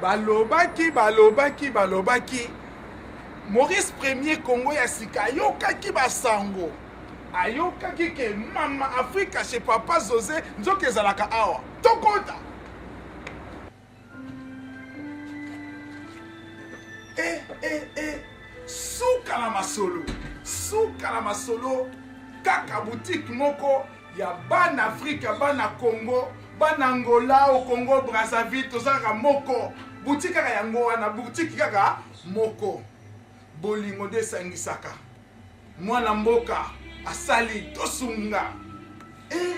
balobaki balobaki balobaki maurice premier congo ya sika ayokaki basango ayokaki ke mama afrika chez papa jose nzoka ezalaka awa tokota e eh, e eh, e eh. suka na masolo suka na masolo kaka butike moko ya bana afrika bana congo bana angola o congo brazzaville toza kaka moko butiki kaka yango wana butiki kaka moko bolingo nde esangisaka mwana mboka asali tosunga e eh,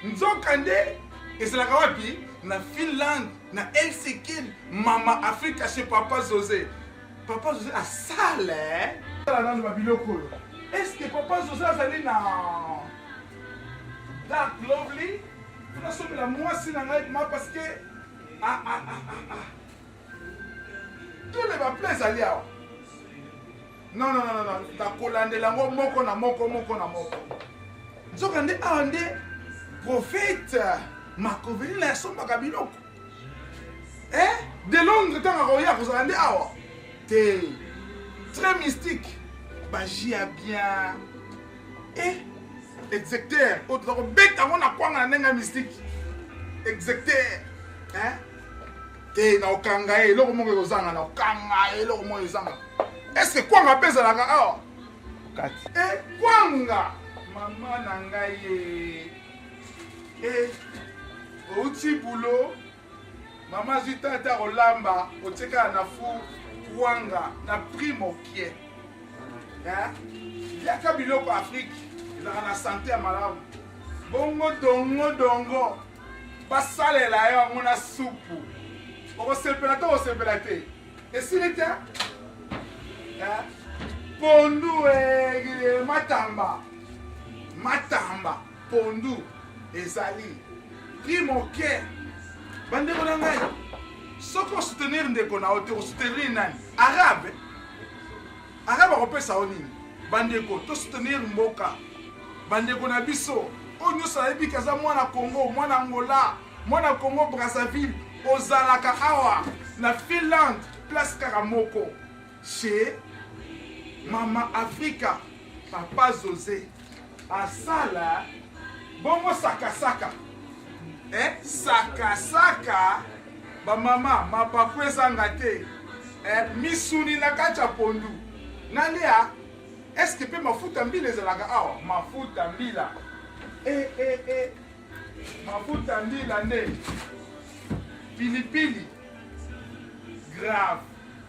nzoka nde ezalaka wapi na finlande na helsinkin mama afrika chez papa jose Papa José a sale hein. Tala nanu ba biloko oyo. Est-ce que papa José azali na Dark Lovely? Tuna somi la mwasi na ngai ma parce que ah ah ah ah ah. Tous les ba plaies ali awa. Non non non non, ta kolandela ngo moko na moko moko na moko. Nzoka nde awa nde prophète Makovelina asombaka biloko. eh de londres ntango akoya akozala nde awa te très mystique baji ya bien eh execteur oyo toza kobeta yango na kwanga na ndenge ya mystique execteur eh te na okanga ye eloko moko ekozanga na okanga ye eloko moko ezanga eske kwanga mpe ezalaka awa kati e kwanga mama na ngai ye e outi bulo mama azwi ntango te akolamba otikala na four kwanga na prix mokie liaka biloko afrike ezalaka na sante ya malamu bongo dongo dongo basalela yo yango na supu okosepela to okosepela te esili te pondu e matamba matamba pondu ezali prix moke bandeko na ngai soki osoutenir ndeko na yo te osoutenir nani arabe arabe akopesa yo nini bandeko tosoutenir mboka bandeko na biso oyo nyonso ayebi ke aza mwana congo mwana angola mwana congo brazzaville ozalaka awa na finlande place kaka moko chez mama afrika papa jose asala bongo sakasaka eh, sakasaka bamama mapapu ezanga te eh, misuni na kati ya pondu nalia eske mpe mafuta mbila ezalaka awa mafuta mbila eh, eh, eh. mafuta mbila nde pilipili grave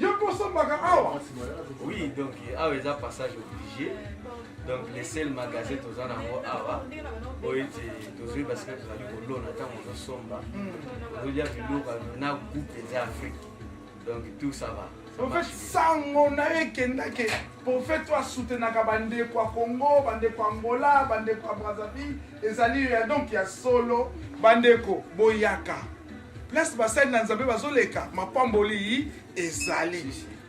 Yo ko sombaka awa? Oui, donc awa eza passage obligé. Donc le seul magasin toza na ngo awa oyo ete tozwi parce que tozali kolona ntango ozosomba ozolia biloko na goût mpenza Afrique. Donc tout ça va. Ça marche bien. sango na yo ekendake Prophète oyo asoutenaka bandeko ya Congo, bandeko ya Angola, bandeko ya Brazzaville, ezali yo ya donc ya solo. Bandeko boyaka place basali na Nzambe bazoleka, mapamboli ezali.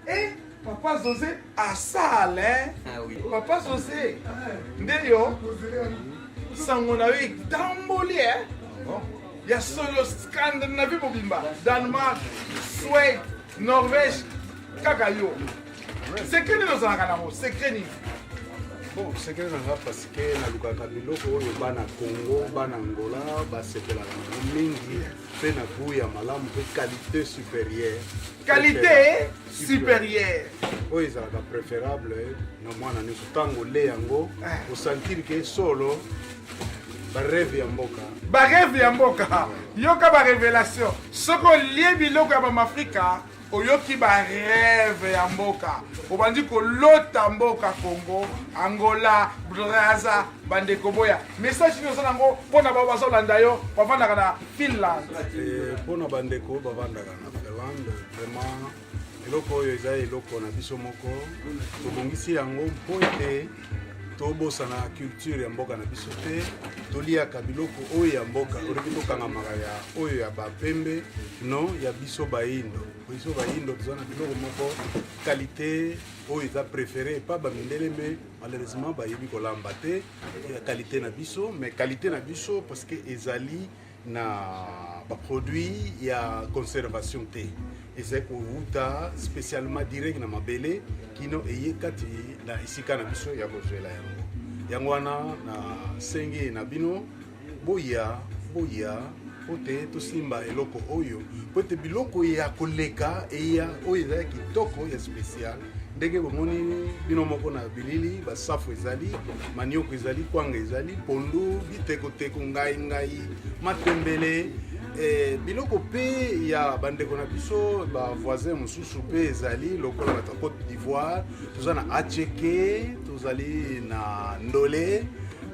Eh, papa Jose asala eh. Ah oui. Papa Jose nde yo sango na yo etamboli eh. Oh. ya solo scandinavie mobimba danemark swede norvège kaka yo Secret nini ozalaka nango? Secret nini? Bon, secret nanga parce que nalukaka biloko oyo bana Congo, bana Angola basepelaka nango mingi mpe na goût ya malamu mpe qualité supérieure. Qualité supérieure. Oyo ezalaka préférable na mwana nyonso ntango olie yango osantiri ke solo bareve ya mboka bareve ya mboka yoka barevelation soki olie biloko ya bamafrika oyoki ba reve ya mboka obandi kolota mboka congo angola braza bandeko boya message nini oza nango mpo na bao bazolanda yo bavandaka na finland eh, mpo na bandeko bavandaka na finlande vraiment eloko oyo eza eloko na biso moko tobongisi yango mpo ete tobosana culture ya mboka na biso te toliaka biloko oyo ya mboka olingi tokangamaka ya oyo ya bapembe non ya biso bayindo biso bayindo toza na biloko moko kalite oyo eza préféré epa bamindele me malheureusement bayebi kolamba te ya kalite na biso mais kalite na biso parce que ezali na baproduit ya conservation te ezali kowuta spécialement direct na mabele kino eye kati na esika na biso ya kozwela yango yango wana na sengi na bino boya boya mpo te tosimba eloko oyo mpo ete biloko ya koleka eya oyo ezali kitoko ya spécial ndenge bomoni bino moko na bilili basafu ezali manioko ezali kwanga ezali pondu bitekoteko ngai ngai matembele eh, biloko mpe ya bandeko na biso bavoisin mosusu mpe ezali lokola bato ya cote d'ivoire toza na acheke tozali na ndole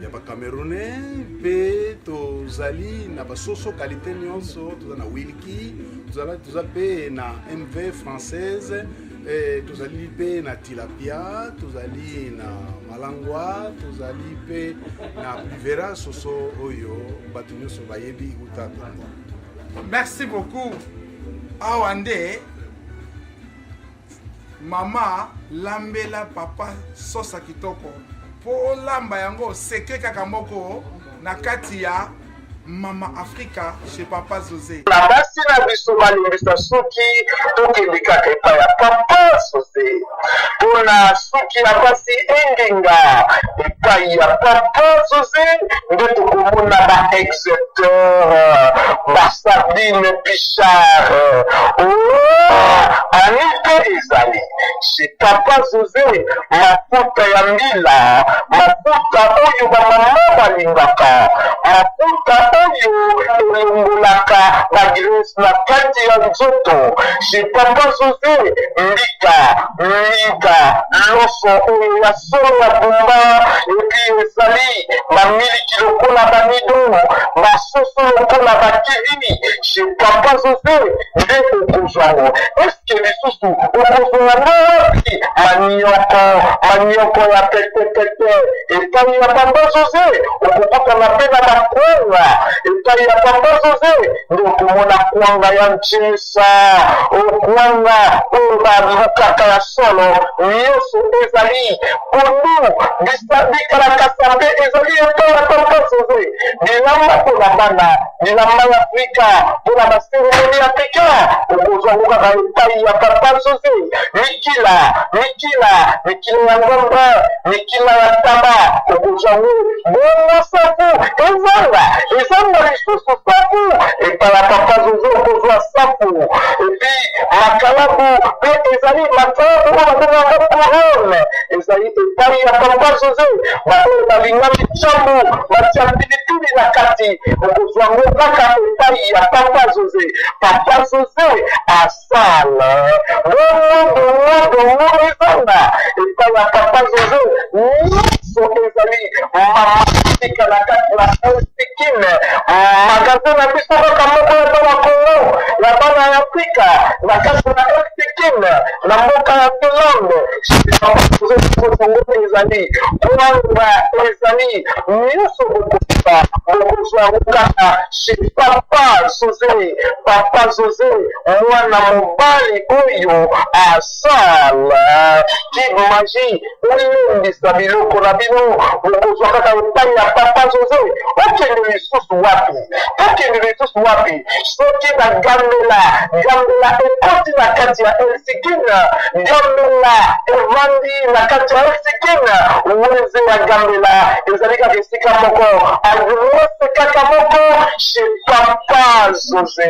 ya bacamerounais mpe tozali na basoso kalite nyonso toza na wilki tozala toza mpe na mv française Eh, tozali mpe na tilapia tozali na malangwa tozali mpe na pluvera soso oyo bato nyonso bayebi uta kongo merci beaucoup awa nde mama lambela papa sosa kitoko mpo olamba yango oseke kaka moko na kati ya Mama Africa chez Papa José. Na basi na biso balimbisa suki tokende kaka epai ya Papa José mpo na suki ya basi engenga epai ya Papa José nde tokomona ba exeteur ba Sabine Pichard oh, ani mpe ezali chez papa jose makuta ya mbila makuta oyo bamama balingaka makuta oyo elongolaka bagrese na kati ya nzoto chez papa jose mbika mbika loso oyo ya solo ya bumba epi ezali bamiliki lokola bamido basoso lokola bakivini chez papa jose nde okozwango ke lisusu okozwa ngo wapi manioko manioko ya petepete epai ya papa jose okokutana mpe na bakwanga epai ya papa jose nde okomona kwanga ya nchimisa okwanga oyo balukaka ya solo nyonso ezali pondu bisabikalakasa mpe ezali epai ya papa jose bilamba mpo na bana elamba ya afrika mpo na baseremoni ya peka okozwa yango kaka epai ya papa jose mikila mikila mikila ya ngomba mikila ya taba okozwa yango bongo safu ezanga ezanga lisusu safu epai ya papa jose okozwa safu epi makalabu mpe ezali makalabu oyo babengaka corone ezali epai ya papa jose baoyo balingami nsambo batya pilipili na kati okozwa ngo kaka epai ya papa jose papa jose asala bongodongodongo ezanga epai ya papa jose nyonso ezali mamatika na kati na sikime magasin na biso kaka moko ya bana kongo ya bana ya afrika na kati na sikime na mboka ya finlande kongo ezali koyamba ezali nyonso bokokiba bokozwa yango kaka chez papa zoze papa zoze mwana mobali oyo asala kimaji olembisa biloko na bino bokozwa kaka epai ya papa zoze okende lisusu wapi akende lisusu wapi soki bagambela gambela ekoti na kati ya elsikina gambela evandi na kati ya elsikina weze ya gambela ezali kaka esika moko agwose kaka moko chez papa jose